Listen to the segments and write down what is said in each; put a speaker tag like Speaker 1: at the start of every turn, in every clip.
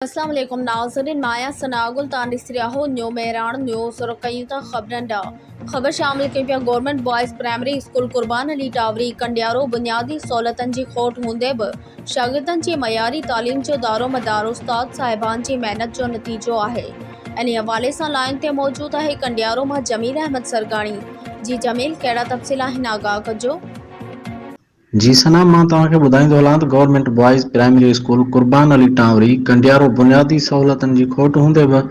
Speaker 1: اسلام عليڪم ناظرين مان آهيان ثناء گل توهان ڏسي رهيا آهيو نيو مهراڻ نيوز رخ ڪيون ٿا خبرن ڏانهن خبر شامل ڪيون پيا government boys primary school Qurban Ali Tawri Kandiaro بنيادي سهولتن جي کوٽ هوندي به شاگردن جي معياري تعليم جو دارومدار استاد صاحبان جي محنت جو نتيجو آهي انهي حوالي سان لائن تي موجود آهي ڪنڊيارو مان جميل احمد سرگاڻي جي جميل ڪهڙا تفصيل آهن آگاهه ڪجو.
Speaker 2: جي ثنا مان توهان کي ٻڌائيندو هلان ته government boys primary school Qurban Ali Tanwari Kandiaro بنيادي سهولتن جي کوٽ هوندي به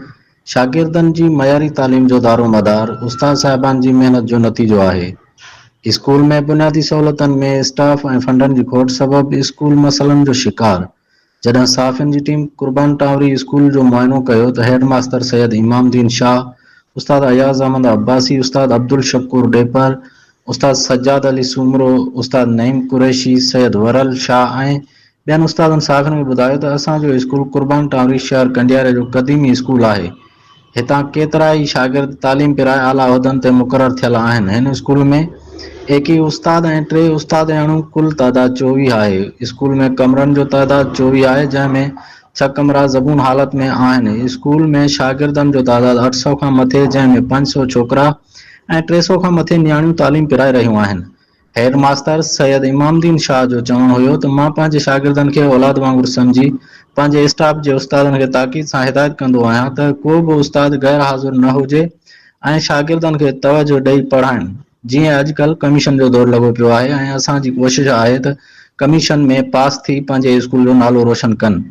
Speaker 2: شاگردن جي معياري تعليم جو دارومدار استاد صاحبان جي محنت جو نتيجو آهي اسڪول ۾ بنيادي سهولتن ۾ اسٽاف ۽ فنڊن جي کوٽ سبب اسڪول مسئلن جو شڪار جڏهن صحافين جي ٽيم قربان ٽاوري اسڪول جو معائنو ڪيو ته هيڊ ماستر سيد امام الدين شاهه، استاد اياز احمد عباسي، استاد عبدالشڪور ڏيپر، استاد سجاد علي سومرو، استاد نعيم قريشي، سيد ورل شاهه ۽ ٻين استادن صحافين کي ٻڌايو ته اسان جو اسڪول قربان ٽاوري شهر ڪنڊياري جو قديمي اسڪول آهي، هتان ڪيترائي شاگرد تعليم پرائي اعليٰ عهدن تي مقرر ٿيل آهن. هن اسڪول ۾ ايڪيهه استاد ۽ ٽي استادياڻيون ڪل تعداد چوويهه آهي. اسڪول ۾ ڪمرن جو تعداد چوويهه آهي جنهن ۾ ڇهه ڪمرا زبون حالت ۾ آهن. اسڪول ۾ شاگردن جو تعداد اٺ سؤ کان مٿي جنهن ۾ پنج سؤ ڇوڪرا ۽ ٽي سؤ کان مٿي نياڻيون تعليم پرائي رهيون آهن. هيڊ ماستر سيد امام دين شاهه جو چوڻ هيو ته مان پنهنجي شاگردن کي اولاد وانگر سمجهي پنهنجي اسٽاف جي استادن کي تاڪيد سان هدايت ڪندو آهيان ته ڪو به استاد غير حاضر نه هجي ۽ شاگردن کي توجهه ڏئي پڙهائين جيئن اڄڪلهه ڪميشن جو دور لڳو پيو آهي ۽ اسان جي ڪوشش آهي ته ڪميشن ۾ پاس ٿي پنهنجي اسڪول جو نالو روشن ڪن.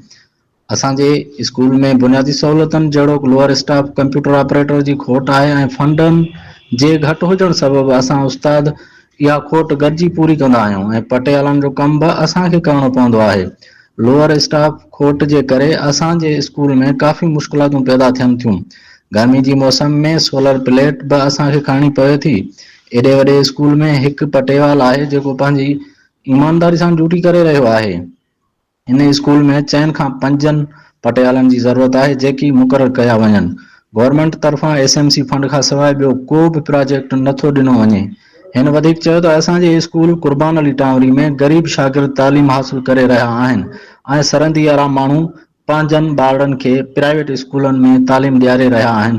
Speaker 2: اسان جي اسڪول ۾ بنيادي سهولتن جهڙوڪ لوئر اسٽاف، ڪمپيوٽر آپريٽر جي کوٽ آهي ۽ فنڊن جي گهٽ هجڻ سبب اسان استاد اها کوٽ گڏجي پوري ڪندا آهيون ۽ پٽيالن جو ڪم به اسان کي ڪرڻو پوندو آهي. لوئر اسٽاف کوٽ جي ڪري اسان جي اسڪول ۾ ڪافي مشڪلاتون پيدا ٿين ٿيون. گرمي جي موسم ۾ سولر پليٽ به اسان کي کڻڻي پوي ٿي. ايڏي وڏي اسڪول ۾ هڪ پٽيوال آهي جيڪو پنهنجي ايمانداري سان ڊيوٽي ڪري رهيو آهي. هن اسڪول ۾ چئن کان پنجن پٽيالن جي ضرورت آهي جيڪي مقرر ڪيا وڃن. گورنمينٽ طرفان ايس ايم سي فنڊ کان سواء ٻيو ڪو به پراجيڪٽ نه ٿو ڏنو وڃي. هن وڌيڪ چيو ته اسان جي اسڪول قربان علي ٽانوري ۾ غريب شاگرد تعليم حاصل ڪري رهيا آهن ۽ سرندي وارا ماڻهو پنهنجن ٻارڙن کي پرائيويٽ اسڪولن ۾ تعليم ڏياري رهيا آهن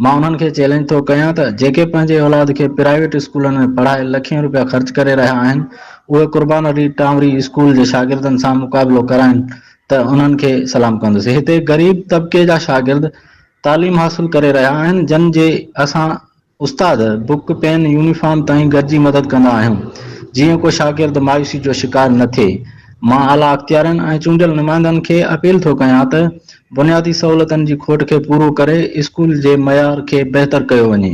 Speaker 2: مان انهن کي چئلينج ٿو ڪيان ته جيڪي پنهنجي اولاد کي پرائيويٽ اسڪولن ۾ پڙهائي لکين روپيا خرچ ڪري رهيا آهن اهي قربان علي ٽانوري اسڪول جي شاگردن سان مقابلو ڪرائين ته انهن کي سلام ڪندس هتي غريب طبقي جا شاگرد تعليم حاصل ڪري رهيا آهن جن جي اسان استاد بڪ پين يونيفارم تائين گڏجي مدد ڪندا آهيون جيئن ڪو شاگرد مايوسي جو شڪار نه ٿئي مان اعليٰ اختيارين ۽ چونڊيل نمائندن کي اپيل ٿو ڪيان ته بنيادي سهولتن جي کوٽ کي پورو ڪري اسڪول جي معيار کي بهتر ڪيو وڃي.